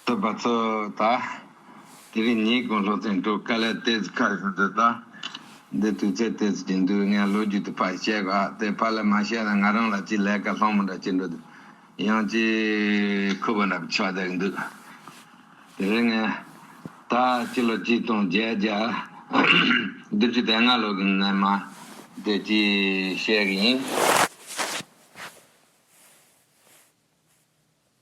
བསྟོད་པ་ཚོ་དང། དེ་རིང་ཉིན་གུང་སློབ་ཚན་དྲུག་དཀའ་ལས་ཏེ་ཚིག་ཁ་ཤོ་འདོད་དང། འདི་དུས་ཚོད་དེ་ཚོད་ཀྱི་འདུག་ངས་ལོ་རྒྱུས་དེ་ཕར་བཤད་གོ་ཨ་དེ་ཕར་ལ་མ་བཤད་ན་ང་རང་ལ་ཅི་ལས་ཀ་སློང་མོ་འདྲ་བྱེད་འགྲོ་དུས་ཡང་ཅི་ཁུ་བ་འདྲ་ཆགས་བསྡད་འདུག་དེ་རིང་ངས་ད་སྤྱི་ལོ་གཅིག་སྟོང་བརྒྱད་བརྒྱ་བདུན་ཅུ་དེ་ལྔ་ལོ་གི་ནས་མ་དེ་ཅི་བཤད་གི་ཡིན།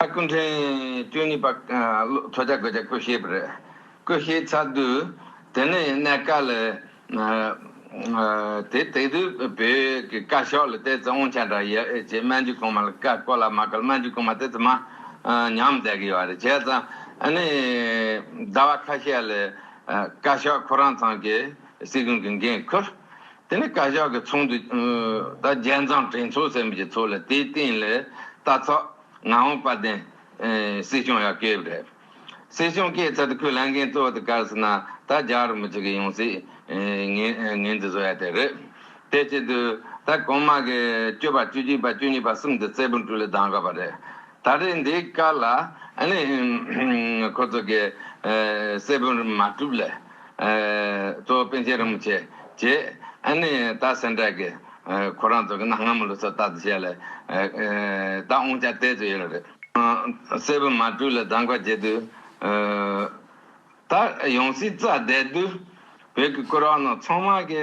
ཨ་ཀུན་ཁྲེན་ཏུའུ་ནི་པ་ཐོ་ཅག་གོ་ཅག་ཀུ་ཤའི་པར་ཀུ་ཤའི་ཚ་དུས་དེ་ནི་གནད་དཀའ་ལ། དེ་དེ་དུས་བོད་ཀྱི་བཀའ་ཤག་ལ་ལྟས་ཙི་ཨོང་ཆ་འདྲ་ཡོད་ཅེས་སྨན་རྒྱུད་གོང་མ་ལ་བཀའ་བཀོད་ལ་མ་བཀོད་ལ་སྨན་རྒྱུད་གོང་མ་དེ་ཙི་མ་ཉམས་མཛད་ཀྱི་ཡོད་རེད་བྱས་ཙང་ནི་ཟླ་བ་ཁ་ཤས་ལ་བཀའ་ཤག་ཁོ་རང་ཚང་གི་སྲིད་གཞུང་གི་འགན་ཁུར། དེ་ནི་བཀའ་ཤག་གི་ཚོགས་འདུ་དང་རྒྱལ་མཚམས་དྲན་ཚོགས་ཟེར་མི་བྱེད་ཚོགས་ལ་དེའི་སྟེང་ལས་རྟ་ཚག་ངག་དབང་དཔལ་ལྡན་སྲིད་སྐྱོང་ཡར་སྐྱེལ་བ་རེད། སྲིད་སྐྱོང་སྐྱེས་ཚར་དུ་ཁོས་ལས་འགན་གཙོ་བོ་དེ་བཀར་ཟིན་ན་ད་རྒྱག་རུ་མི་བྱེད་གི་ཡོང་སྲིད། ངས་འདི་བཟོ་ཡ་དེ་རེད། དེ་བྱེད་དུས་ད་གོང་མ་གི་བཅུ་པ་བཅུ་གཅིག་པ་བཅུ་གཉིས་པ་གསུམ་དེ་བཙད་པོ་འགྲུལ་ལ་སྡང་དགའ་བ་རེད། ད་རེས་འདིའི་བཀའ་ལ་ཨ་ནི་ཁོ་ཚོ་གི་བཙད་པོ་མ་གྲུབ་ལེ། གཙོ་བོ་པཎ་ཆེན་རིན་པོ་ཆེ་བཅས་ཨ་ནི་ད་སེང་བྲག་གི་ཁོ་རང་ཚོ་གི་ན་སྔ་མོ་ལོ་ཚོད་ལྟ་དུ་བྱས་ལ་ད་ཨོང་ཅག་བསྟད་དུ་ཡོད་ལ་རེད། སྲས་པུ་མ་སྤྲུལ་ལ་བདག་འགའ་བྱེད་དུ་ད་ཡོང་སྲིད་རྩ་བསྡད་དུས་བོད་ཀྱི་སྐུ་རག་ནང་ཚང་མ་གི་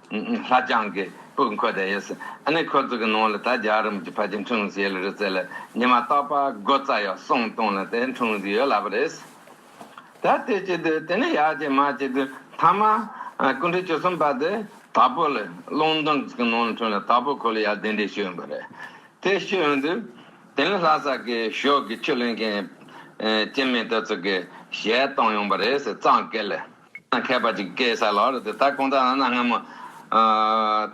ལྷ་བྱང་གི་སྤུས་འཁོད་དེ་ཡོད་སྲིད། ཨ་ནི་ཁོ་ཚོ་གི་ནང་ལ་ད་རྒྱ་རིམ་གྱི་ཕ་གྱི་འཁྲུངས་གཟིགས་ཡོད་ལ་རི་རྩེ་ལ་ཉི་མ་ལྟག་པ་དགུ་རྩ་ཡོད་གསུང་སྟོང་ལ་དེའི་འཁྲུངས་གཟིགས་ཡོད་ལབ་པ་རེད་སྲིད། ད་དེ་བྱེད་དུས་དེ་ནས་ཡར་བྱེད་མར་བྱེད་དུས་མཐའ་མ་སྐུ་འབྲས་བཅུ་གསུམ་པ་དེ་དྭགས་པོ་ལ་ཀློང་མདུན་གྱི་ནང་ལ་འཁྲུངས་ལ་དྭགས་པོ་ཁོ་ལ་ཡར་གདན་འདྲེན་ཞུས་ཡོང་གི་རེད། དེ་ཞུས་ཡོང་དུས་དེ་ནས་ལྷ་ས་གི་ཞོགས་ཀྱི་ཆུ་ལེན་མཁན་སྐྱེ་མེད་དེ་ཚོ་གིས་ཞལ་བཏང་ཡོང་པ་རེད་ཟེར་གཙང་སྐད་ལས། མཁས་པ་ཅིག་སྐད་ས་ལ་རུ་དེ་ལྟར་གོང་ཚ་ན་ན་སྔ་མོ།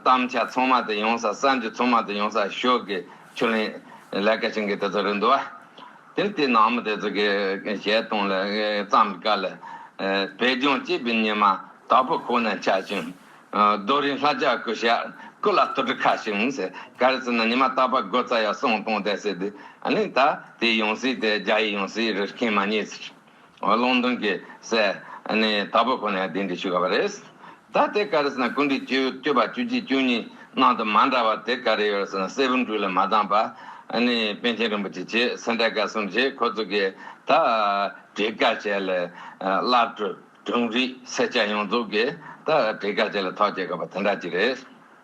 གཏམ་འཆལ་ཚོང་མ་དེ་ཡོང་ས་ས་འཇུ་ཚོང་མ་དེ་ཡོང་ས་ཤོག་གི་ཆུ་ལེན་ལས་ཀ་བྱེད་མཁན་དེ་ཚོ་རེད་འདུག་བ། དེར་དེ་ནང་མི་དེ་ཚོ་གི་གཞས་གཏོང་ལ་བརྩམས་པའི་སྐབས་ལ། བོད་ལྗོངས་སྐྱིད་པའི་ཉི་མ་དྭགས་པོ་ཁོ་ན་འཆར་བྱུང། རྡོ་རིང་ལྷ་བྱ་ཀུ་ཤ་ཀུ་ལ་སྟོད་གྲུ་ཁ་བྱུང་ཟེར་ག་རེ་ཟེར་ན་ཉི་མ་དྭགས་པ་སྒོ་རྩ་ཡག་སོང་གཏོང་བསྡད་ཟེར་དུས་ཨ་ལིང་ད་དེ་ཡོང་སྲིད་དེ་རྒྱ་ཡིག་ཡོང་སྲིད་རེ་མཁན་མ་རྙེད་ཟེར། ལུང་སྟོན་གྱི་སྲས། ནི་དྭགས་པོ་ཁོ་ནས་དེ་འདི་ཞུ་ག་བ་རེད། ད་དེ་ག་རེ་ཟེར་ན་ཀུན་དཀྲིས་བཅུ་བཅུ་པ་བཅུ་གཅིག་བཅུ་གཉིས་ནང་དུ་མ་འདྲ་བ་དེ་ག་རེ་ཡོད་ཟེར་ན་སྲས་བུ་འབྲུག་ལས་མ་བཏང་པ། ནི་པན་ཆེན་རིན་པོ་ཆེ་བྱས་སེ་འདྲ་ག་གསུམ་བྱས་ཁོ་ཚོ་གིས་ད་བྲིས་ཀ་བྱས་ལས། སླར་གྲུབ་གྲུང་རིགས་སེར་སྐྱ་ཡོངས་རྫོགས་ཀྱིས་ད་བྲིས་ཀ་བྱས་ལས་ཐོག་བསྐྱེལ་ག་བ་དེ་འདྲ་གཅིག་རེད།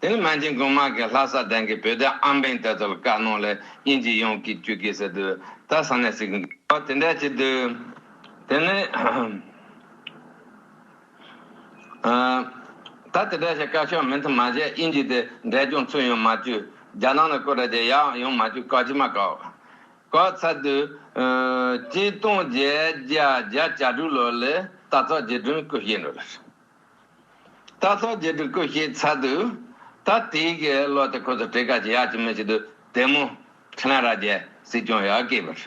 དེ་ནི་མན་ཅིང་གུང་དམག་གིས་ལྷ་ས་གདན་གྱི་བོད་སྡེ་ཨམ་བན་དེ་ཚོ་ལ་བཀའ་གནང་ལས་དབྱིན་ཇི་ཡོང་གི་བཅུག་གི་ཟེར་དུས་ད་ས་ནས་ཟིག་འགྲོ་བ་དེ་འདྲ་བྱེད་དུས། དེ་ནི། ད་དེ་འདྲ་བྱེད་བཀའ་ཤོག་མི་མཐུན་མ་བྱས་དབྱིན་ཇི་དེ་འདྲས་ཀྱང་ཚུར་ཡོང་མ་བཅུག་རྒྱ་ནག་ནས་བསྐོས་དྲ་རྒྱ་ཡག་ཡོང་མ་བཅུག་བཀའ་ཅི་མ་བཀའ་བཀའ་ཚར་དུས། སྤྱི་སྟོང་བརྒྱད་བརྒྱ་བརྒྱ་བརྒྱ་དྲུག་ལོར་ལས་ད་ཚོགས་རྗེ་དྲུང་སྐུ་གཤེགས་འགྲོ་ལ། ད་སོགས་རྗེས་འགྲོ་ཀུན་ཤེས་ཚར་དུས། ད་ལྟའི་དགེ་སློབ་དེ་ཁོ་ཚོ་བྲེ་ག་ཅིག་ཡག་ཅིག་མི་ཤེས་དུས་དེ་མོ། ཕྲན་ར་རྒྱལ་སྲིད་སྐྱོང་ཡག་སྐད་པར།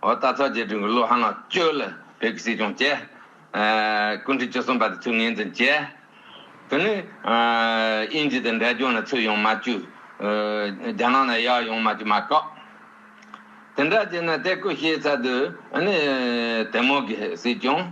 འོ་ད་སོགས་རྗེས་འགྲོ་ཀུན་སློབ་ཧ་ནག་ཅོལ་ལ་བོད་ཀྱི་སྲིད་སྐྱོང་བྱས། སྐུ་འཁྲི་བཅུ་གསུམ་པ་དེ་ཚོས་ངེས་འཛིན་བྱས། དེ་ནས་དབྱིན་ཇི་དང་འབྲས་ལྗོངས་ནས་ཚུར་ཡོང་མ་བཅུ། རྒྱ་ནག་ནས་ཡག་ཡོང་མ་བཅུ་མ་བཀག། དེ་འདྲ་བྱས་ནས་དེ་ཀུན་ཤེས་ཚར་དུས། དེ་མོ་དགེ་སྲིད་སྐྱོང།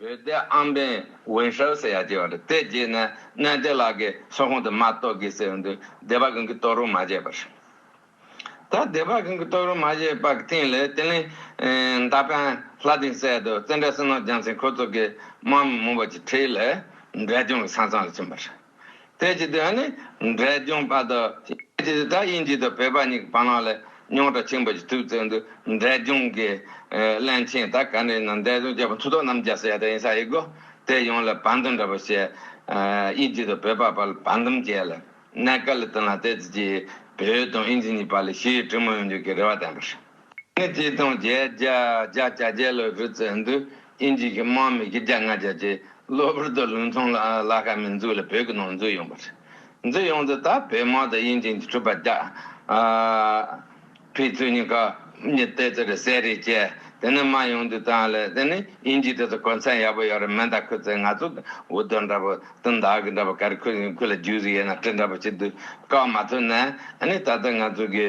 བོད་སྡེ་ཨམ་བན་ཝུན་ཧྲའུ་ཟེར་ཡག་ཅེས་བ་རེད་དེ་རྗེས་ནས་གནས་བདེ་ལགས་ཀྱི་སོག་ཁོང་དུ་མ་གཏོགས་གི་ཟེར་བ་འདུག་སྡེ་པ་གང་གི་གཏོགས་རུང་མ་བཞེས་པར། ད་སྡེ་པ་གང་གི་གཏོགས་རུང་མ་བཞེས་པ་གི་སྟེང་ལས་དེ་ལིན་མདའ་པན་ལྷ་སྡིངས་སད་དུ་བཙན་བྲལ་སེར་ནོར་རྒྱང་ཚིང་ཁོ་ཚོ་གི་དམག་མི་མང་པོ་ཅིག་ཁྲིད་ལས་འབྲས་ལྗོངས་ཀྱི་ས་གཙང་ལ་ཕྱིན་པ་རེད། དེ་ཅི་དེ་ཧ་ནི་འབྲས་ལྗོངས་པ་དུ་ཅི་དེ་ད་དབྱིན་ཇི་དུ་བོད་པ་གཉིས་ཀྱི་བར་ནང་ལས་རྙོག་དྲ་ཆེན་པོ་ཞིག་ཐུག་ཚེ་འདུག་འབྲས་ལྗོངས་ཀྱི་བླན་ཆེན་ད་ག་ནས་ན་འབྲས་ལྗོངས་སྐྱ་བོ་མཐུ་སྟོབས་རྣམ་རྒྱལ་སོ་ཡ་ད་ཡིན་ས་ཡི་གོ་དེ་ཡོང་ལ་བར་འདུམ་འདྲ་པོ་བྱས་དབྱིན་ཇི་དུ་བོད་པ་བར་ལ་བར་འདུམ་བྱས་ལ་གནད་ཀ་ལ་བསྟུན་ལ་དེ་ཅི་ཅི་བོད་དང་དབྱིན་ཇི་གཉིས་བར་ལ་ཞི་ཡི་གྲི་མོ་ཡོང་རྒྱུ་གི་རེ་བ་ལྡན་པ་རེད། ནི་བཅས་སྟོང་བརྒྱད་བརྒྱ་བརྒྱ་བརྒྱ་བརྒྱ་ལོའི་རི་རྩེར་འདུག་ཨིན་ཇིའི་གི་དམག་མི་བརྒྱ་ལྔ་བརྒྱ་བརྒྱས་གློ་བུར་དུ་ལུང་ཚོང་ལ་ཁ་མི་འཛུགས་ལ་བོད་ཀྱི་ནང་འཛུལ་ཡོང་པ་རེད། འཛུལ་ཡོང་དུས་ད་བོད་དམག་དང་ཨིན་ཇིའི་གྲུབ་པ་བརྒྱ་ཕིས་ཚུལ་གཉིས་ཀ་གཉིས་བལྟས་ཚུལ་རེད་ཟེར་རེད་ཅེས་དེ་ནས་མར་ཡོང་དུས་ད་ལས་དེ་ནི་ཨིན་ཇིའི་དེ་ཚོ་གོ་མཚན་ཡག་པོ་ཡོད་རེད་མེ་མདའ་ཁུར་ཚེ་ང་ཚོ་གི་འུར་རྡོ་འདྲ་པོ་དང་མདའ་གི་འདྲ་པོ་ག་རེ་ཁུར་ཡོང་ཁུར་ལ་རྒྱུགས་རེ་ཡོད་ན་དྲི་འདྲ་པོ་བྱེད་དུས་བཀག་མ་ཐུབ་ནའི་ད་ལྟ་ང་ཚོ་གི།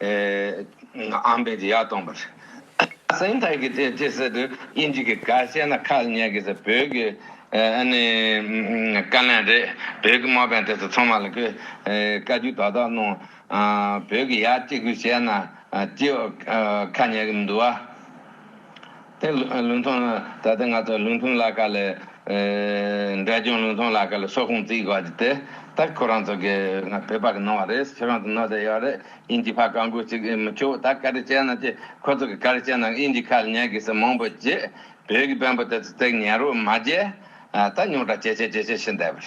ཨམ་བན་གྱི་ཡ་སྟོང་པར། སེམས་ཐག་གིས་དེ་ཅི་ཟེར་དུས་དབྱིན་ཇི་གི་ག་བཤད་ན་ཁག་ཉན་གི་ཟེར་བོད་ཀྱི་ཀ་ལན་རེད་བོད་ཀྱི་མོ་བན་དེ་ཚོ་ཚང་མ་ལ་གི་བཀའ་རྒྱུད་དག་དག་གནང་བོད་ཀྱི་ཡ་གཅིག་པུས་བཤད་ན་ཅི་ཁག་ཉན་གི་མི་འདུག་བ། དེ་ལུང་ཐུང་ནི་ད་ལྟའི་ང་ཚོ་ལུང་ཐུང་ལ་ཀ་ལས། འབྲས་ལྗོངས་ལུང་ཐུང་ལ་ཀ་ལས་ཕྱོགས་ཁུངས་བརྩིས་དགོས་རྒྱུ་དེ་ད་ཁོ་རང་ཚོ་གི་ང་བོད་པ་གི་ནང་བ་རེད་ཁྱོད་རང་ཚོ་ནོར་ཟེར་ཡོད་རེད་དབྱིན་ཇི་ཕ་བཀའ་འགུག་ཅིག་མི་ཆོག་ད་ཀ་རེ་བྱས་ན་ཅི་ཁོ་ཚོ་གི་ཀ་རེ་བྱས་ན་དབྱིན་ཇི་ཁ་ལ་ཉན་དགོས་ཟེར་མང་པོ་བརྗེད་བོད་ཀྱི་བོན་པོ་དེ་ཚོ་བརྩེགས་ཉན་རོགས་མ་བརྗེད་ད་རྙོག་དྲ་ཇེ་ཆེ་ཇེ་ཆེ་ཕྱིན་བསྡད་པར།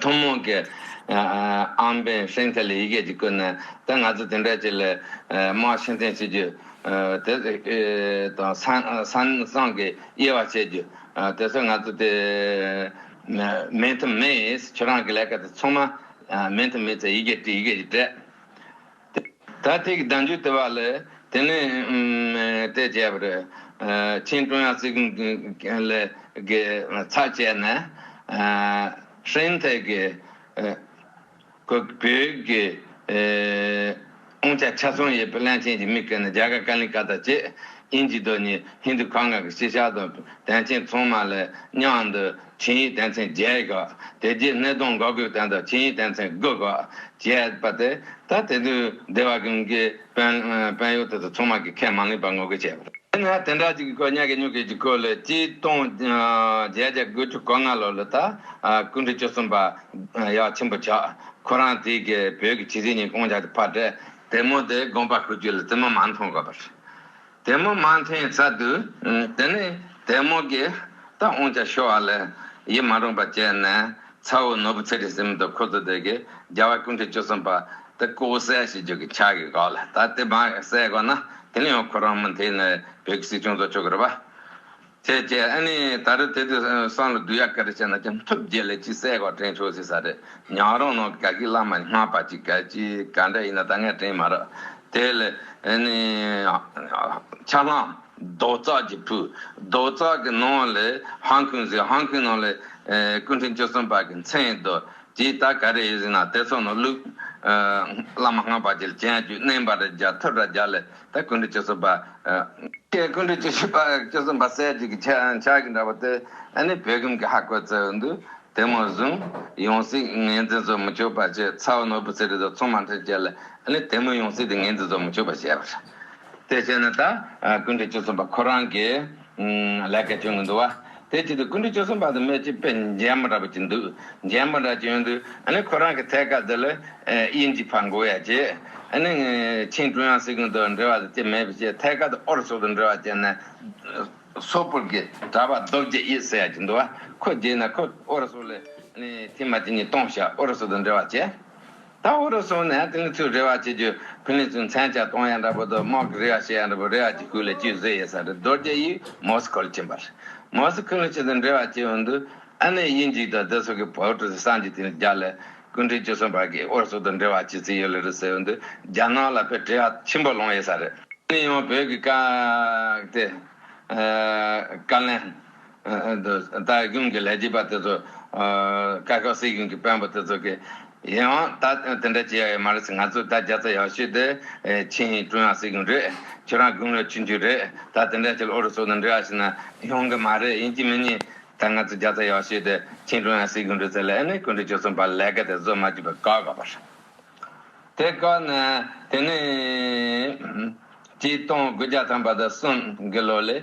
ཐུན་མོང་གི་ཨམ་བན་སེང་ཐལ་ཡི་གེ་ཅིག་བཀོད་ནས་དེ་ང་ཚོས་དེ་འདྲ་ཅིག་ལས་དམག་ཕྱིར་འཐེན་བྱེད་རྒྱུ། དེ་དང་སང་སང་གི་དབྱེ་བ་འབྱེད་རྒྱུ། དེ་ཚོ་ང་ཚོ་དེ་མེད་ཐུབ་མེད་ཁྱོད་རང་གི་ལས་ཀ་དེ་ཚང་མ་མེད་ཐུབ་མེད་ཚེ་ཡི་གེ་བྲིས་ཡི་གེ་ཡི་གྲས། ད་ཐེག་བདག་འཇུག་དེ་བ་ལས་དེ་ནས་དེ་བྱས་པར། ཆིང་ཀྲུང་ཡང་སྲིད་ལས་ཀྱི་ཚབ་བྱས་ནས། ཧྲེང་ཐའེ་གྱི་བོད་ཀྱི་དབང་ཆ་ཆ་ཚང་ཡོད་པའི་བླན་ཆེན་གྱི་མིག་གིས་ནི་རྒྱ་གར་ཀ་ལིང་ཀ་ཏཱ་བཅས་དབྱིན་ཇི་རྡོ་གཉིས་ཧིན་དྷུ་གྷ་ངྷ་གི་སྤྱི་ཤག་དང་བན་ཆེན་ཚང་མ་ལ་གཉའ་འདུ་ཆིངས་ཡིག་དེ་མཚན་བརྒྱད་བཀག། དེ་རྗེས་སྣེ་གདོང་འགག་སྒོའི་སྟེང་དང་ཆིངས་ཡིག་དེ་མཚན་དགུ་བཀག། ཅེས་པ་སྟེ། ད་དེ་དུས་སྡེ་བ་ཀུན་གྱིས་དཔོན། དཔོན་གཡོག་དེ་ཚོ་ཚང་མ་གིས་ཁས་མ་ལེན་པར་ངོ་རྒོལ་བྱས། དེ་ནས་དེ་འདྲ་ཅིག་གི་སྐོར་གཉའ་གན་སྨྱུག་གིས་ཀྱི་སྐོར་ལས་སྤྱི་སྟོང་བརྒྱད་བརྒྱ་དགུ་བཅུ་གོ་ལྔ་ལོ་ལོ་ད་སྐུ་འབྲི་བཅུ་གསུམ་པ་ཡ་ཆེན་པོ་ཆགས། ཁོ་རང་དེའི་གི་བོད་ཀྱི་ཕྱི་སྲིད་གཉིས་སྐོང་བྱ་སྟེ་ཕར་བསྐྲད། དེ་མོ་དེ་དགོངས་པ་ཁུར་རྒྱུ་ལ་བཙུན་མོ་མ་མཐོང་དགོས་པར། དལ་མོ་མ་འཐེན་ས་དུས། དེ་ནས་དལ་མོ་གིས་རྟ་འོང་ཆ་ཤོར་བ་ལས་ཡིད་མ་རུངས་པ་བྱས་ནས་ཚ་བོ་ནོར་བུ་ཚེ་རིང་སྲིང་མོ་དང་ཁོ་ཚོ་དེ་གའི་རྒྱལ་བ་ཀུན་གྲོལ་བཅུ་གསུམ་པ་དེ་སྐུ་བོ་གསལ་ཞེས་བརྗོད་ཀྱི་ཕྱག་གིས་བགགས་ལ་ད་དེ་མ་གསལ་གོ་ན་དེ་ནས་ཡང་ཁོ་རང་མུ་མཐའི་ནས་བོད་ཀྱི་སྲིད་སྐྱོང་ཚོགས་མཆོག་གི་རུ་པ། ཁྱེད་ཀྱིས་ཨ་ནི་ད་རེ་དེ་དུས་སང་ལ་བསྡུ་ཡ་ག་རེ་བྱས་ན་ཀྱང་ཐུགས་དགྱེས་ལས་ཅི་གསལ་གོ་དྲན་ཆོག་ཟེར་ས་རེད་ཉག་རོང་ནང་གི་ག་གི་བླ་མ་ནི་སྔགས་པ་གཅིག་གལ་ཆེ་ག་འདྲ་ཡིན་ན་ད་ངས་དྲན་མ་རག་དེ་ལ་ཨ་ནི། ཆ་ལྷམ། རྡོ་བཙག་གི་བུ། རྡོ་བཙག་གི་ནང་ལ་ཧང་ཁུན་ཟེར་ཧང་ཁུན་ནང་ལ་སྐུ་འཕྲེང་བཅུ་གསུམ་པ་གི་མཚན་ཡོད་དོ་དེའི་ད་ག་རེ་ཡོད་ཟེར་ན་དེ་ཚོ་ནང་བླུགས། བླ་མ་སྔགས་པ་གཅིག་ལ་བྱན་རྒྱུད་བསྣན་པ་རེ་རྒྱ་ཐུབ་ར་རྒྱ་ལ། ཏེ་ཀུན་དུ་སྤྱི་གསུམ་པ། ཀྱེ་ཀུན་དུ་སྤྱི་གསུམ་པ་གསལ་བྱེད་ཀྱི་ཕྱག་གིས་འདྲ་བ་སྟེ། ནི་བད་ཀུན་གྱི་ཧ་བཀོད་བསྩལ་བས་འདུད། དེ་མོ་བཟུང། ཡང་སྲིད་ངེས་འཛིན་རྫོགས་མི་ཆོག་པར་བྱས། ཚ་བ་ནོར་བུ་ཚེ་རིལ་དང་མཚུངས་མ་མཐར་བཅད་ལ། ནི་དེ་མོ་ཡང་སྲིད་དེ་ངེས་འཛིན་རྫོགས་མི་ཆོག་པར་བྱས། དེ་བྱས་ན་ད་ཀུན་དུ་སྤྱི་གསུམ་པ་ཁོ་རང་གི། ལས་ཀའི་དོན་དངོས་འདུལ་བ། དེའི་ཆེད་དུ་ཀུན་གྲོལ་བཅུ་གསུམ་པ་དང་སྨོས་ཅི་དཔེ་རྒྱན་པ་འདྲ་པོ་ཅིག་འདུག་རྒྱན་པ་འདྲ་ཅིག་ཡོད་འདུག་ཨ་ནི་ཁོ་རང་གི་ཐད་ཀར་དེ་ལ་དབྱིན་ཇིའི་ཕར་འགོ་ཡ་བྱས། ཨ་ནི་ཆིན་ཀྲུང་དབྱང་སྲིད་གཞུང་དང་འབྲེལ་བ་དང་བཅས་མེད་པའི་ཕྱིར་ཐད་ཀར་དུ་ཨོ་རུ་སུ་དང་འབྲེལ་བ་བྱས་ནས། སོག་པོར་གྱི་གྲྭ་པ་རྡོ་རྗེ་དབྱིད་ཟེར་ཡ་ཅིག་འདུག་བ་ཁོ་རྗེས་ནས་ཁོས་ཨོ་རུ་སུ་ལས་ཨ་ནི་ཐེངས་མ་ཅིག་གཉིས་སྟོང་ཞག་ཨོ་རུ་སུ་དང་འབྲེལ་བ་བྱས། ད་འུ་རུ་སུ་ནས་དེང་གི་ཚུལ་རེ་བ་བྱེད་རྒྱུ་ཕིན་ལེ་ཚུན་ཚན་བྱ་སྟོང་ཡ་འདྲ་པོ་དུ་དམག་གི་རེ་བ་བྱེད་ཡ་འདྲ་པོ་རེ་བ་གྱི་ཁུག་ལས་ཅུས་བཟོས་ཡེ་ས་རེ་རྡོར་རྒྱ་ཡིས་མོ་སི་ཁོ་ལ་བྱིན་པ་རེ་མོ་སི་ཁོས་ལུ་ཆེ་དང་འབྲེལ་བ་བྱེད་འོན་དུ་ཨ་ནེ་དབྱིན་ཇིག་དང་རྡི་སུག་གི་བོ་ཀྲུ་སི་སང་གྱི་དེང་རྒྱ་ལས་སྐུ་འཕྲེང་བཅུ་གསུམ་བར་གྱི་འུ་རུ་སུ་དང་འབྲེལ་བ་བྱེད་རྩིས་ཡོད་ལེ་རུ་ཟེར་འོན་དུ་རྒྱ་ནག་ལ་བོད་བྲེལ་བ་ཆེན་པོ་ལོང་ཡེ་ས་རེ། ནི་ཡང་བོད་ཀྱི་བཀའ་དེ་བཀའ་ལན། ད་གུང་གི་ལས་བྱེད་པ་དེ་ཚོ་སྐར་ཁག་སྲིད་གཞུང་གི་དཔོན་པོ་དེ་ཚོ་གི་ཡིན་འང་ད་དེ་འདྲ་བྱེད་ཡག་ཡོད་མ་རེད་ང་ཚོ་ད་རྒྱ་ཚ་ཡག་ཤོས་དེ་ཆིན་ཡིན་ཀྲུང་དབྱང་སྲིད་གཞུང་རེད་ཁྱོད་རང་གུང་ལོ་ཆུང་ཆུང་རེད་ད་དེ་འདྲ་བྱེད་ལ་ཨོ་རོད་སོགས་དང་འབྲེལ་བ་བྱེད་ན་ཡོང་གི་མ་རེད་ཡིན་གྱི་མི་ཉན་ད་ང་ཚོ་རྒྱ་ཚ་ཡག་ཤོས་དེ་ཆིན་ཀྲུང་དབྱང་སྲིད་གཞུང་རེད་ཟེར་ལ་ཨེ་ནས་གུང་ཁྲན་ཆོལ་གསུམ་པ་ལས་ཀ་དེ་བཟོ་མ་བཅུག་པ་བཀག་ག་པར་དེ་བཀག་ན་དེ་ནས་ཀྱི་སྟོང་དགུ་བརྒྱ་ཐམ་པ་དང་གསུམ་གི་ལོ་ལས།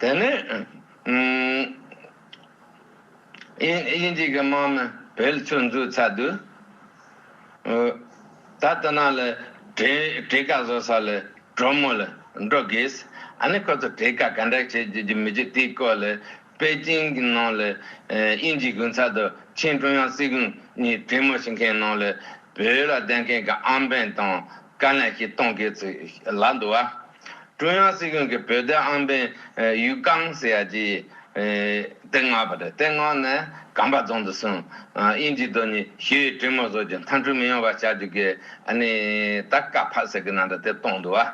དེ་ནི། དབྱིན་ཇིག་གི་དམག་མི་བེལ་ཆུ་འཛུགས་ཚར་དུས། ད་དུ་ན་ལི་བྲེ་ག་བཟོ་ས་ལ་གྲོ་མོ་ལ་འགྲོ་དགོས། ཨ་ནི་ཁོ་ཚོ་བྲེ་ག་ག་འདྲ་བྱེད་རྒྱུ་རྒྱུ་མི་རྒྱུ་དེའི་སྐོར་ལ་པེ་ཅིང་གི་ནང་ལ་དབྱིན་ཇིའི་དགུན་ཚར་དུ་ཆིན་ཀྲུང་དབྱང་སྲིད་གཞུང་གཉིས་གྲོས་མོལ་བྱེད་མཁན་ནང་ལ་བོད་ལ་ལྡན་མཁན་གྱི་ཨམ་བན་དང་བཀའ་ལན་ཞིག་གཏོང་དགོས་ཚུལ་ལབ་འདུག་བ། ཀྲུང་དབྱང་སྲིད་གཞུང་གི་བོད་དོན་ཨང་པན་ཡུས་ཀང་ཟེར་ཡ་ཇི། ཏེ་ང་པ་དེ་ཏེ་ང་ནས་གམ་པ་རྫོང་དུ་སོང། དབྱིན་ཇི་དོ་ནི་ཞི་བའི་གྲོས་མོལ་བཟོ་རྒྱུ་མཐའ་འཁྲུག་མི་ཡོང་བ་བྱ་རྒྱུ་གི་ཨ་ནི་ད་ཀ་ཕ་ཟེར་གི་ན་འདྲ་དེ་གཏོང་འདུག་བ།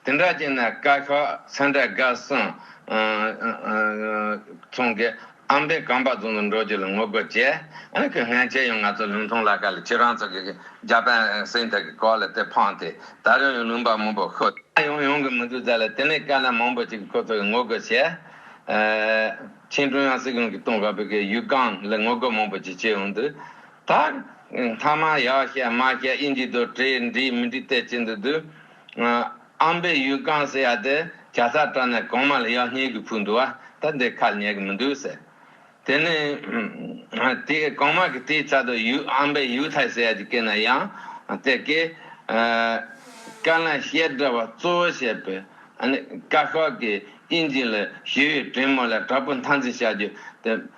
དེ་འདྲ་བྱས་ནས་བཀའ་ཤོག་ཚན་ཁྲ་དགའ་སོང། ཚོང་གི། ཨམ་བན་གངས་པ་རྫོང་དུ་འགྲོ་རྒྱུ་ལ་ངོ་རྒོལ་བྱས། ཨང་ཀི་ངྷན་ཅེ་ཡང་ང་ཚོ་ལུང་ཐུང་ལ་ཁ་ལ་ཁྱེད་རང་ཚོ་གིས་རྒྱ་པན་སེང་ཐག་གི་སྐོར་ལ་དེ་འཕངས་ཏེ་ད་རུང་ཡང་ལུང་པ་མང་པོ་ཤོད། ད་ཡོང་ཡོང་གི་མི་འདུག་རྫ་ལ་དེ་ནས་དཀའ་ལས་མང་པོ་བྱེད་ཀི་ཁོ་ཚོ་གིས་ངོ་རྒོལ་བྱས། ཆིན་ཀྲུང་དབྱང་སྲིད་གཞུང་གིས་ཏུང་ཧྭ་བོད་ཁའི་ཡུལ་སྒང་ལ་ངོ་རྒོལ་མང་པོ་བྱེད་ཆེད་ཡོང་དུས། ད། མཐའ་མ་ཡག་ཤ་མ་ཤ་དབྱིན་ཇིས་དོ་དྲེད་འགྲིག་མི་འགྲིག་བལྟས་ཀྱི་འདུག་དུས། ཨམ་པའི་ཡུལ་གང་ཟེར་ཡ་དེ་གྱ་ཚ་དྲག་ནས་གོང་མ་ལ་ཡག་ཉེས་ཀྱི་ཕུག་འདུག་བ་ད་འདི་ཁ་ལ་ཉེས་ཀྱི་མི་འདུག་ཟེར། དེ་ནས། དེ་གོང་མ་གི་དེའི་ཚ་དོ་ཡུལ་ཨམ་པའི་ཡུལ་ཐའི་ཟེར་ཡ་དེ་སྐད་ན་ཡང། དེ་སྐད། བཀའ་ལན་བཤད་གྲྭ་བ་གཙོ་བོ་བྱས་པའི། བཀའ་ཤག་གི་དབྱིན་ཇི་ལ་ཞུ་ཡི་དྲིན་མོ་ལ་དྲ་འབུ་མཐའ་འཛིན་བྱ་རྒྱུ་དེ།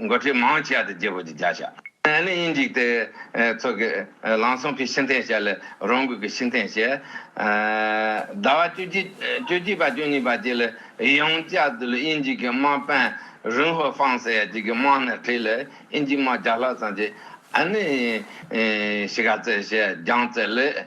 མགོ་ཁྲིད་མང་ཆེ་བ་དེ་རྒྱལ་པོ་གྱི་བརྒྱ་བྱ་ནི་ཡིན་འཇིག་དེ་ཚོ་གི་ལང་སོང་ཕི་ཤི་འཐེན་བྱ་ལས་རང་འགུལ་གི་ཤི་འཐེན་བྱས། ཟླ་བ་བཅུ་གཅིག་བཅུ་གཅིག་པ་བཅུ་གཉིས་པ་བཅས་ལ་ཡང་བཅའ་སྡོད་ལ་ཡིན་འཇིག་གི་དམག་དཔོན་རུན་ཧོ་ཧྥང་ཟེར་ཡ་གཅིག་གི་དམག་སྣེར་ཁྲིད་ལ་ཡིན་འཇིག་དམག་བརྒྱ་ལྷག་ཙམ་གྱིས་ཨ་ནི་ཤི་ག་རྩེ་ཞེས་རྒྱང་བཙེར་ལས།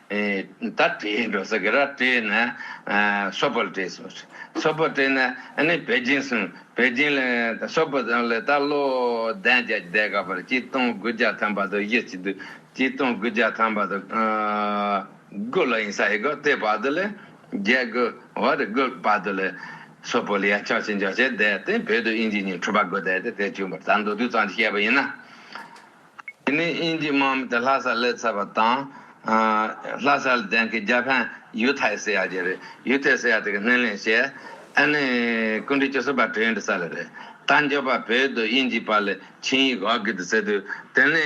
ད་དེའི་འགྲོ་ས་གི་ར་སྤྲེལ་ན་སོ་པར་སྤྲེལ་སོ། སོ་པར་སྤྲེལ་ན་ནི་བེ་ཅིན་སོ། བེ་ཅིན་ལ་སོ་པར་སྤྲེལ་ལ་ད་ལོ་ལྡན་བརྒྱ་ཅི་བཟླས་ག་པར་སྐྱིད་སྟོང་དགུ་བརྒྱ་ཐམ་པ་དུ་ཡི་སྐྱིད་སྐྱིད་སྟོང་དགུ་བརྒྱ་ཐམ་པ་དུ་དགུ་ལ་ཡིན་ས་ཡི་གོ་དེ་བར་དུ་ལས་བརྒྱད་དགུ་བར་དགུ་བར་དུ་ལས་སོ་པར་ལ་ཡ་ཅོག་ཅི་འཇོག་བྱས་བཟླས་ཏེ་བོད་དུ་དབྱིན་ཇི་ཉིན་འཁྲུལ་པ་དགུ་བཟླས་ཏེ་དེ་བཅུ་བར་ད་མདོ་དུས་གཙང་གྱི་བཤད་པ་ཡིན་ན། དེ་ནི་དབྱིན་ཇིའི་དམག་མི་དེ་ལྷ་སར་སླེབས་ཚར་བ་དང། ལྷ་སར་ལྡན་མཁན་རྒྱ་ཕན་ཡུས་ཐའེ་སི་ཡ་ཇེ་རེད། ཡུས་ཐའེ་སི་ཡ་དེ་གི་སྣེ་ལེན་བྱས། ཨ་ནི་སྐུ་མགྲོན་ཆོས་སྲིད་པ་ཀྲི་ཡོན་ཏི་ས་ལ་རེད། དར་མགྱོགས་པ་བོད་དུ་དབྱིན་ཇིའི་པར་ལས་ཆིང་ཡིག་གྷོ་གྷི་ཏི་ཟེར་དུས་དེ་ནི་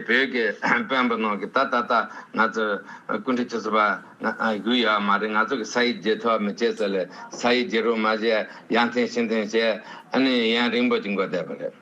བོད་ཀྱི་དཔོན་པོ་ནང་གི་ད་ད་ལྟ་ང་ཚོ་སྐུ་མགྲོན་ཆོས་སྲིད་པ་གུ་ཡོད་མ་རེད་ང་ཚོ་གི་ས་ཡིག་བརྗེ་ཐོ་མི་བྱེད་ཟེར་ལས་ས་ཡིག་བརྗེ་རུ་མ་བྱས་ཡ་འཐེན་ཤི་འཐེན་བྱས་ཨ་ནི་ཡན་རིང་པོ་ཅིག་འགོ་བསྡད་པ་རེད།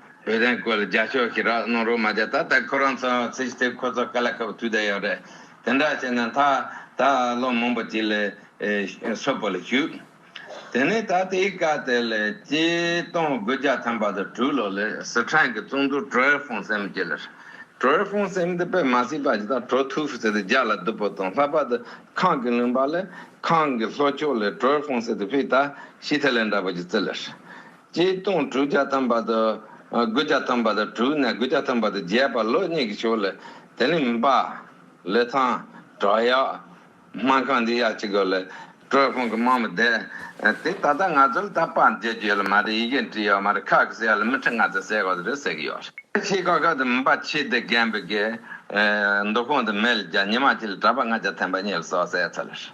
བོད་དོན་སྐོར་ལ་རྒྱ་ཕྱོགས་ཀྱིས་རགས་གནོང་རོགས་མ་བྱ་ད་ལྟ་ཁོ་རང་ཚོ་ཚེ་ཞི་ཐེབས་ཁོ་ཚོ་ག་ལ་ཁ་བ་དུད་ད་ཡོད་རེད་དེ་འདྲ་བྱས་ན་ད་ད་ལོ་མང་པོ་ཅིག་ལས་སོ་པོ་ལ་ཞུགས་དེ་ནས་ད་དེ་ཡི་སྐབས་དེ་ལས་སྐྱེ་སྟོང་དགུ་བརྒྱ་ཐམ་པ་དང་དྲུག་ལོ་ལས་སི་ཁྲང་གི་ཙུང་ཐུང་ཀྲོ་ཨེར་ཧྥུང་སེམ་ཅེ་ལས་ཀྲོ་ཨེར་ཧྥུང་སེམ་དེ་པེ་མ་སི་པ་ཇི་ད་ཀྲོ་ཐུ་ཧྥུ་སེ་དེ་རྒྱ་ལ་བསྡུ་པོ་དང་ལྷག་པ་དེ་ཁང་གི་ལུང་པ་ལས་ཁང་གི་ལྷོ་ཕྱོགས་ལས་ཀྲོ་ཨེར་ཧྥུང་སེ་དེ་བྷི་ད་ཤི་ཐེ་ལེ་འདྲ་པོ་ཅིག་བརྩི་ལས། སྤྱིའི་སྟོང་དྲུག་བརྒྱ་ཐམ་པ་དང། དགུ་བརྒྱ་ཐམ་པ་དང་དྲུག་ནས་དགུ་བརྒྱ་ཐམ་པ་དང་བརྒྱད་བར་ལོ་གཉིས་ཀྱི་ཆོས་ལས། དེ་ནི་མིན་པ། ལི་ཐང། བྲག་གཡག། སྨན་ཁང་འདི་ཡག་ཅི་དགོས་ལ། དྲོད་ཁོང་གི་སྨྲ་མི་བདེ། དེ་ད་ལྟ་ང་ཚོ་ལ་ད་དཔར་མཇལ་རྒྱུ་ཡོད་ལ་མ་རེད་ཡི་གེ་འབྲི་ཡོད་མ་རེད་ཁག་གི་སེ་ལ་མི་ཁྲི་ལྔ་ཙམ་ཟས་གོ་ཟེར་རེད་ཟེར་གྱི་ཡོད་རེད། ཁྱི་ཁ་ཁ་དང་མིན་པ་ཁྱི་དེ་རྒན་པོ་དགེ། མདོ་ཁོང་དང་མལ་བརྒྱ་ཉི་མ་ཁྱི་ལ་གྲྭ་པ་ལྔ་བརྒྱ་ཐེམ་པ་གཉིས་ལ་སོགས་ཟས་ཚོད་ལ་ཧྲིལ།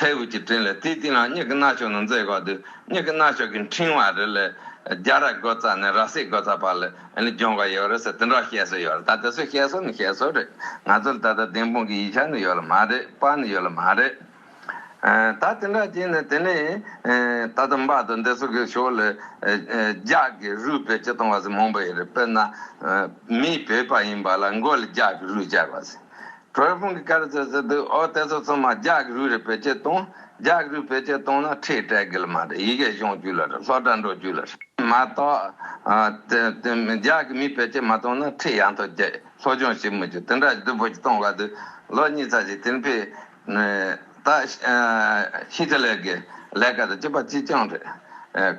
མཐའི་དབུས་ཀྱི་སྤྲིན་ལས་དེའི་སྟེང་ན་མྱིག་གི་རྣ་ཅོག་ནི་མཛེས་གོ་དུས་མྱིག་གི་རྣ་ཅོག་གི་འཕྲེང་བ་རི་ལས་རྒྱ་ར་གོ་ཙ་ནས་ར་སི་གོ་ཙ་བར་ལས་རྒྱོང་ག་ཡོད་རེད་ཟེར་དེ་འདྲ་བཤད་སྲོལ་ཡོད་རེད་ད་དེ་ཚོའི་བཤད་སྲོལ་ནི་བཤད་སྲོལ་རེད་ང་ཚོ་ལ་ད་ལྟ་བདེན་དཔང་གི་ཡིག་ཆ་ནི་ཡོད་ལ་མ་རེད་པ་ནི་ཡོད་ལ་མ་རེད། ད་དེ་འདྲ་བྱས་ནས་དེ་ནས་ད་ལྟ་འབའ་དང་འདི་ཚོ་གི་ཕྱོགས་ལས་རྒྱ་གི་རུས་བེད་སྤྱི་གཏོང་བ་ཟིག་མང་པོ་ཡོད་རེད་དཔེར་ན་མི་བོད་པ་ཡིན་པ་ལ་མགོ་ལ་རྒྱ་གི་རུས་བཅག་པ་ཟིག་གྲོ་ཡི་ཕུང་གི་སྐལ་རེ་ཚོད་ཟེར་འདུག་ཨོ་དེ་ཚོ་ཚང་མ་རྒྱ་གི་རུས་རེད་བེད་སྤྱད་གཏོང། རྒྱ་གི་རུས་བེད་སྤྱད་གཏོང་ན་ཁྲེས་སྤྲད་དགོས་ལ་མ་རེད་ཡི་གེ་གཞུང་རྒྱུད་ལ་རེད་སློབ་གྲྭ་འགྲོ་རྒྱུད་ལ་རེད་མ་གཏོགས། རྒྱ་གི་མི་བེད་སྤྱད་མ་གཏོང་ན་ཁྲེས་ཡང་ཐོག་རྒྱ་སློབ་སྦྱོང་བྱེད་མི་རྒྱུ་དེ་འདྲ་བདུད་བོ་ཅི་གཏོང་ག་དུས་ལོ་གཉིས་ཚར་གཅིག་དེ་ཕེ་ད་ཧི་ཏི་ལེར་གི་ལས་ཀ་དང་སྤྱི་པ་སྤྱི་སྐྱོང་རེད།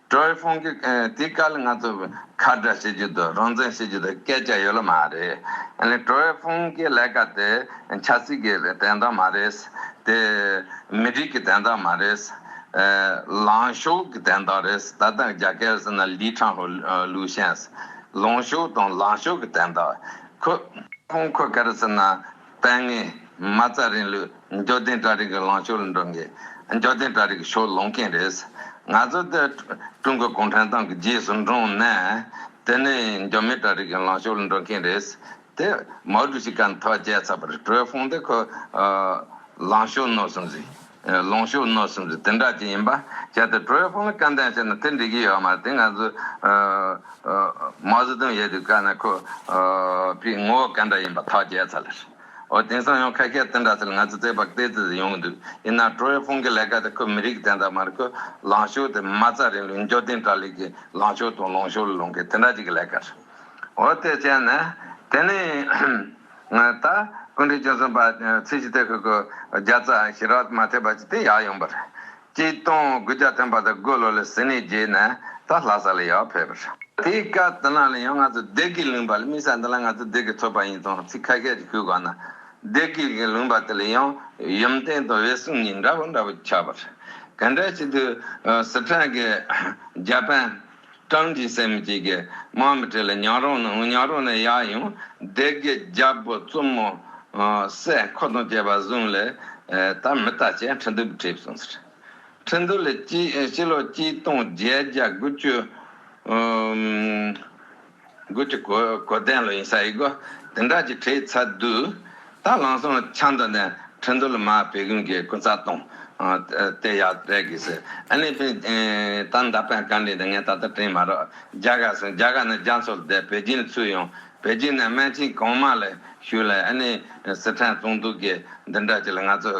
ཀྲོའི་ཧྥུང་གིས་དེའི་སྐབས་ལ་ང་ཚོ་ཁ་བརྡ་བྱེད་རྒྱུ་དང་རང་བཙན་བྱེད་རྒྱུ་དང་སྐད་ཆ་ཡོད་ལ་མ་རེད། ཀྲོའི་ཧྥུང་གི་ལས་ཀ་དེ་ཆབ་སྲིད་ཀྱི་དན་རྟགས་མ་རེད། དེ་མི་རིགས་ཀྱི་དན་རྟགས་མ་རེད། ལངས་ཕྱོགས་ཀྱི་དན་རྟགས་རེད། ད་ལྟ་རྒྱ་གར་ཟེར་ན་ལི་ཁྲང་ཧོ་ལུའུ་ཤན། ལངས་ཕྱོགས་དང་ལངས་ཕྱོགས་ཀྱི་དན་རྟགས། ཁོས། ཧྥུང་ཁོས་ག་རེ་ཟེར་ན། དཔལ་ངན། མ་རྩ་རིང་ལུགས་འབྱོར་ལྡན་གྲ་རིགས་ཀྱི་ལངས་ཕྱོགས་ལ་འགྲོ་མཁན། འབྱོར་ལྡན་གྲ་རིགས་ཀྱི་ཕྱོགས་ལོངས་མཁན་རེད། ང་ཚོ་འདི་ཀྲུང་གོ་གུང་ཁྲན་ཏང་གི་རྗེས་སུ་འབྲངས་ན། དེ་ནི་འབྱོར་མེད་གྲ་རིགས་ཀྱི་ལངས་ཕྱོགས་ལ་འགྲོ་མཁན་རེད། དེ་མའོ་ཀྲུའུ་ཞི་ག་ནི་ཐོག་བརྒྱལ་ཚར་བར་ཀྲུའེ་ཧྥུང་དེ་ཁོའི་ལངས་ཕྱོགས་ནོར་སོང་ཟིག། ལོངས་ཤུགས་མནོ་བསམ་ཚུལ་དེ་འདྲ་ཅིག་ཡིན་པ་བྱས་ཏེ་བྲོ་བའི་དཔུང་ལ་ཀ་འདན་བྱས་ན་དེ་འགྲིག་གི་ཡོད་མ་རེད་དེ་ང་ཚོས་མའོ་ཙེ་ཏུང་ཡལ་དུས་བཀའ་ན་ཁོ་པའི་ངོ་བོ་ག་འདྲ་ཡིན་པ་ཐག་བཅད་ཚར་ལེ། འོ་དེང་སང་ཡང་ཁ་སྐད་དེ་འདྲ་ཚུལ་ང་ཚོས་བརྩེགས་པ་བརྟས་ཚུལ་དེ་ཡོང་གི་འདུག་ཡིན་ནའང་བྲོ་བའི་དཔུང་གི་ལས་ཀ་དེ་ཁོས་མི་རིགས་དེ་འདྲ་མ་རེད་ཁོས་ལངས་ཕྱོགས་དེ་མ་རྩ་རིང་ལུགས་འབྱོར་ལྡན་དགྲ་ལས་ཀྱི་ལངས་ཕྱོགས་དང་ལོངས་ཕྱོགས་ལ་ལོངས་མཁན་དེ་འདྲ་ཅིག་གི་ལས་ཀ་རེད། འོ་དེ་བྱས་ནས་དེ་ནི། ངོས་ད་སྐུ་འདྲའི་རྒྱུན་སོང་པ་ཚིག་ཅིག་སྟེ་ཁོས་ཁོའི་བརྒྱ་རྩ་ཞི་རགས་མ་ཐེབས་པ་ཅིག་སྟེ་ཡག་ཡོང་པར། སྐྱིད་སྟོང་དགུ་བརྒྱ་ཐོན་པ་དང་དགུ་ལོ་ལ་ཟི་ནས་རྒྱས་ནས་ད་ལྷ་ས་ལ་ཡག་ཕེབས་པར། དེའི་སྐབས་དེ་ལ་ལ་ཡང་ང་ཚོ་བདེ་སྐྱིད་ལུང་པ་ལ་དམིགས་ས་འདི་ལ་ང་ཚོ་བདེ་སྐྱིད་ཐོབ་པ་ཡིན་སྟངས་ཚིག་ཁ་ཤས་ཅིག་ཞུ་དགོས་ན། བདེ་སྐྱིད་ཀྱི་ལུང་པ་དེ་ལ་ཡང་ཡུམ་བརྟན་དང་འོད་སྲུང་གཉིས་འདྲ་བོ་འདྲ་བོ་ཆགས་པར། ག་འདྲ་ཞིག་ཏུ། སི་ཁྲོན་གྱི་རྒྱ་དཔོན། སྤྲང་གི་སེམས་སྐྱེ་དགའི་དམག་མི་བྲེ་ལ་ཉག་རོང་ན་ཉག་རོང་ན་ཡག་ཡོང་བདེ་དགེ་རྒྱལ་པོ་བཙུན་མོ་སྲས་འཁོར་དང་བཅས་པ་བཟུང་ལས་ད་མི་ལྟ་བྱས་ཁྲི་འདུལ་བྲིས་བསུང་ཟེར་ཁྲི་འདུལ་ལས་སྤྱི་ལོ་སྤྱི་སྟོང་བརྒྱད་བརྒྱ་དགུ་བཅུ། མགུལ་གྱི་གོ། གོ་དན་ལོ་ཡིན་ས་ཡི་གོ། དེ་འདྲ་གྱི་ཁྲའི་ཚ་དུས། དང་ལང་སོང་ཆང་དུ་ནས། ཁྲི་འདུལ་མ་བེ་གུན་གྱི་ཀུན་ཚ་གཏོང། དེ་ཡག་རེད་གི་སི། ཨ་ནི་པིན། ད་མདའ་པན་ག་འདྲི་འདི་ངས་ད་ལྟ་དྲིན་མ་རོག། རྒྱ་གར་སོང་རྒྱ་གར་ནས་རྒྱ་མཚོར་བསྡད་བེ་ཅིན་ཚུད་ཡོང། བེ་ཅིན་ནས་སྨན་ཆིན་གོང་མ་ལས་ཞུས་ལས་ཨ་ནི་སི་ཁྲན་བཙོང་འདུག་གི་འདི་འདྲ་གྱི་ལ་ང་ཚོ་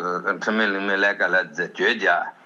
ཁྲི་མེད་ལིང་མེད་ལས་ཀ་ལས་རྫས་བཅོས་རྒྱ།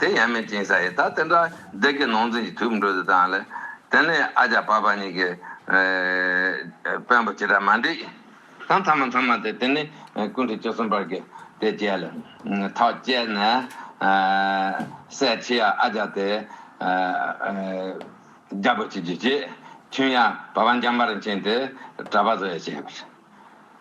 དེ་ཡན་མེད་ཅིང་ས་ཡི་ད་དེ་འདྲ་བདེ་གི་ནོངས་འཛིན་གྱི་དུས་འགྲོ་དེ་དང་ལས། དེ་ནས་ཨ་ཅག་བ་བ་གཉིས་ཀྱི། བོན་པོ་ཇི་ལྟར་མ་འདྲིས། དང་ཐ་མ་མཐའ་མ་དེ་དེ་ནི་ཀུན་དུ་བཅུ་གསུམ་པར་གྱི་དེ་བཅད་ལ། ཐག་བཅད་ནས། སྲས་ཆེ་ཡ་ཨ་ཅག་དེ། རྒྱལ་པོ་བྱེད་རྒྱུ་བྱས། ཁྱོད་ཡང་བ་བ་འཇམ་པར་མཁྱེན་ཏེ་གྲྭ་པ་བཟོ་ཡ་བྱས་པར།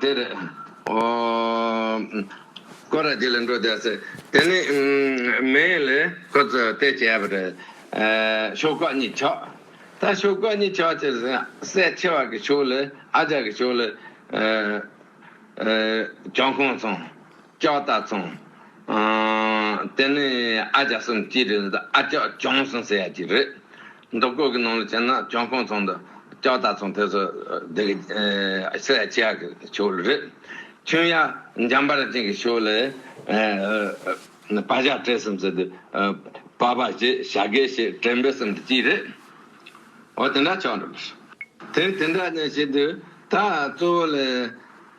འདིར་ཀོ་ར་དེ་ལ་འགྲོ་བསྡད་ཟེར། དེ་ནས་མེ་ཡན་ལས་ཁོ་ཚོས་དེ་བྱས་པ་རེད། ཤོག་ཁག་གཉིས་ཆགས། ད་ཤོག་ཁག་གཉིས་ཆགས་ཚེ་སྲས་ཆེ་བ་གི་ཕྱོགས་ལས་ཨ་ཅག་གི་ཕྱོགས་ལས་གྱང་ཁོངས་ཚང། ཅོག་ལྟ་ཚང། དེ་ནི་ཨ་ཅག་སུམ་གཅིག་རེད་འདུག་ཨ་ཅག་གྱོང་གསུམ་ཟེར་ཡ་གཅིག་རེད་འདུག་སྐོར་གྱི་ནང་ལ་བྱས་ན་གྱོང་གང་ཚང་འདུག་ཅོག་ལྟ་ཚང་དེ་ཚོ་འདི་གི་ཟེར་ཡ་བྱེད་ཡ་གི་ཆོག་ལ་རེད། ཁྱོད་ཡ་འཇམ་པ་ར་ཅན་གྱི་ཤོག་ལས་བ་བཞག་བྲེལ་གསུམ་ཟེར་དུས་བ་བ་ཞེས་བྱ་དགེ་ཞེས་བྲེལ་འབྲེལ་གསུམ་དུ་གཅིག་རེད། འོ་དེ་འདྲ་ཆོག་འགྲོ། དེ་དེ་འདྲ་ཞེས་དུས་ད་གཙོ་བོ་ལས།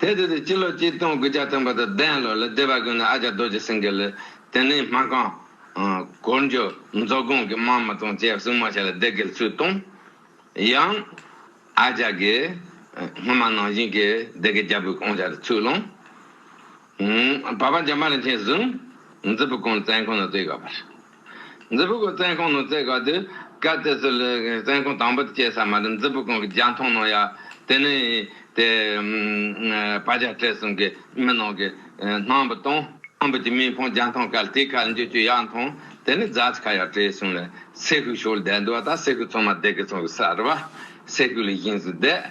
དེ་དེ་དེ་སྤྱི་ལོ་གཅིག་སྟོང་དགུ་བརྒྱ་དང་པོ་དང་བདུན་ལོར་ལི་སྡེ་བ་དགོན་ནས་ཨ་ཅག་རྡོ་རྗེ་སེང་གེ་ལི་ཏི་ནི་མ་ཀང། གོར་མཇོ། མཛོ་དགོན་གྱི་དམངས་མི་དང་བཅས་བསྲུང་མ་བྱས་ལ་སྡེ་དགེར་ཚུལ་བཏང། ཡང། ཨ་ཅག་གིས། སྔོན་མ་ནང་བཞིན་གྱི་སྡེ་དགེ་རྒྱལ་པོའི་བསྐང་བྱ་དེ་ཚུར་བླངས། བ་བ་འཇམ་པ་རིན་ཆེན་བཟུང། མཛོད་སྤུ་གོང་བཙན་ཁང་ནོར་རྩེ་ག་བར། མཛོད་སྤུ་གོང་བཙན་ཁང་ནོར་རྩེ་ག་དུ་ག་བཙལ་སྲོལ་བཙན་ཁང་དང་པོ་དུ་སྐྱེས་ས་མ་རུ་མཛོད་སྤུ་གོང་གི་རྒྱ་མཐོང་ནང་ཡ་དེ་ནས་དེ་བ་བྱ་བྲལ་གསུམ་གི་མི་ནང་གི་སྣང་བུ་དང་སྣང་བུ་གྱི་མིང་ཕང་རྒྱ་མཐོང་གལ་ཏེ་ཁ་འཇུ་ཅུ་ཡག་མཐོང་དེ་ནས་རྫ་ཆ་ཁ་ཡག་བྲེ་གསུམ་ལ་སེ་ཤུག་ཤོར་བསྡད་འདུག་བ་ད་སེ་ཤུག་ཚང་མ་བསྡད་གི་ཚང་གི་སར་བ་སེ་ཤུག་ལས་བཞིན་བཟོས་བསྡད།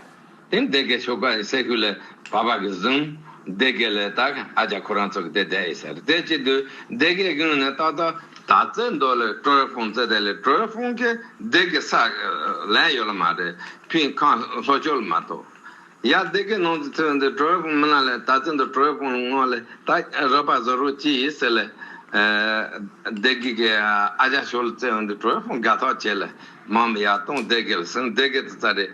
དེ་འདི་གའི་ཆོས་སྒོ་ཡི་སའི་ཤུལ་ལས་བབས་པ་གིས་བཟུང། འདི་གའི་ལས་དག་ཨ་ཅག་ཁོ་རང་ཚོ་གིས་དེ་བསྡད་ཡོད་ཟེར་དེ་ཅི་དུས་འདི་གའི་དབྱིངས་ནས་ཏག་ཏག་ད་བཙལ་འདོད་ལས་ཀྲོའེ་ཧྥུང་བཙལ་དེ་ལས་ཀྲོའེ་ཧྥུང་གིས་འདི་གའི་ས་ལེན་ཡོད་ལ་མ་རེད་ཕིང་ཁང་ལྷོ་ཕྱོགས་ལ་མ་གཏོགས། ཡང་འདི་གའི་ནང་དུ་ཚུད་འདི་ཀྲོའེ་ཧྥུང་མི་ལ་ལས་ད་བཙལ་འདོད་ཀྲོའེ་ཧྥུང་ལ་སྔོན་ལས་ཏག་རག་པ་བཟོ་རོགས་ཅི་ཡིན་ཟེར་ལས། འདི་གའི་གི་ཨ་ཅག་ཞོ་ལ་བཙལ་འདི་ཀྲོའེ་ཧྥུང་དགའ་ཐག་བྱས་ལས་མང་མི་ཡག་གཏོང་འདི་གའི་ལ་ཟེར་འདི་གའི་དུ་རྩ་རེད།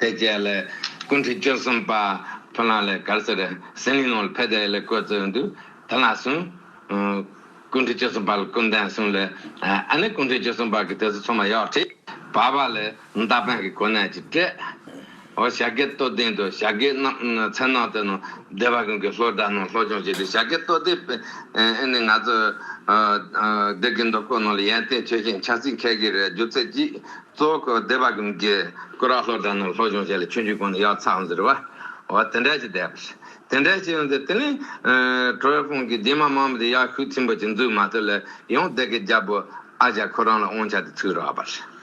དེ་རྗེས་ལས་སྐུ་འཁྲིད་བཅུ་གསུམ་པ་ཕུ་ནག་ལས་གར་སེར་ཟི་ལིང་ནོར་བྷེ་དེ་ལས་བསྐོས་གཙོས་ཡོང་དུས་དེ་ལ་སུན། སྐུ་འཁྲིད་བཅུ་གསུམ་པ་ལ་ཀུན་ལྡན་སུན་ལས་ཨ་ནེ་སྐུ་འཁྲིད་བཅུ་གསུམ་པ་གི་དེ་ཚོ་ཚོ་མ་ཡོག་ཁྲིད་བ་པ་ལས་མདའ་འཕེན་གི་གོ་གནས་ཀྱི་སྤྲད། ཨོ་ཞག་གེ་སྟོད་སྡིང་དུ་ཞག་གེ་ནག་མཚན་ནོག་དེ་ནོ་སྡེ་བ་ཀུན་གི་ལྷོ་སྦྲ་ནོ་ལྷོ་སྦྱོང་བྱེད་དུས་ཞག་གེ་སྟོད་སྡེ་པས་ཨེ་ནི་ང་ཚོ་སྡེ་དགེ་མདོ་ཁོ་ནོ་ལ་ཡན་ཏན་ཆོས་ཞེན་ཆགས་ཚིག་འཁེལ་གི་རེད་རྒྱུ་ཚད་ཀྱིས། གཙོ་བོ་གོ་བདེ་བ་གི་མགྱི། སྐུ་རགས་ལྷོ་བྲག་ནུབ་ལྷོ་གཞུང་བྱས་ལ་ཆུ་འཇུག་གོང་ནས་གཡག་ཚགས་འཛིར་བ། འོ་དེ་འདྲ་ཞིག་བསྡད་པ་ཞིག། དེ་འདྲ་ཞིག་ཡོང་ཚེ་དེ་ནི། ཁྲོ་བོའི་དཔུང་གིས་རྗེས་མ་མང་པོ་དེ་གཡག་ཤུགས་ཆེན་པོ་ཞིག་འཛུགས་མ་ཐུབ་ལ་ཡོང་བསྡད་ཀི་རྒྱལ་པོ་ཨ་ཞང་ཁོ་རང་ལ་དབང་ཆ་དེ་ཚུགས་རག་པ་རེད།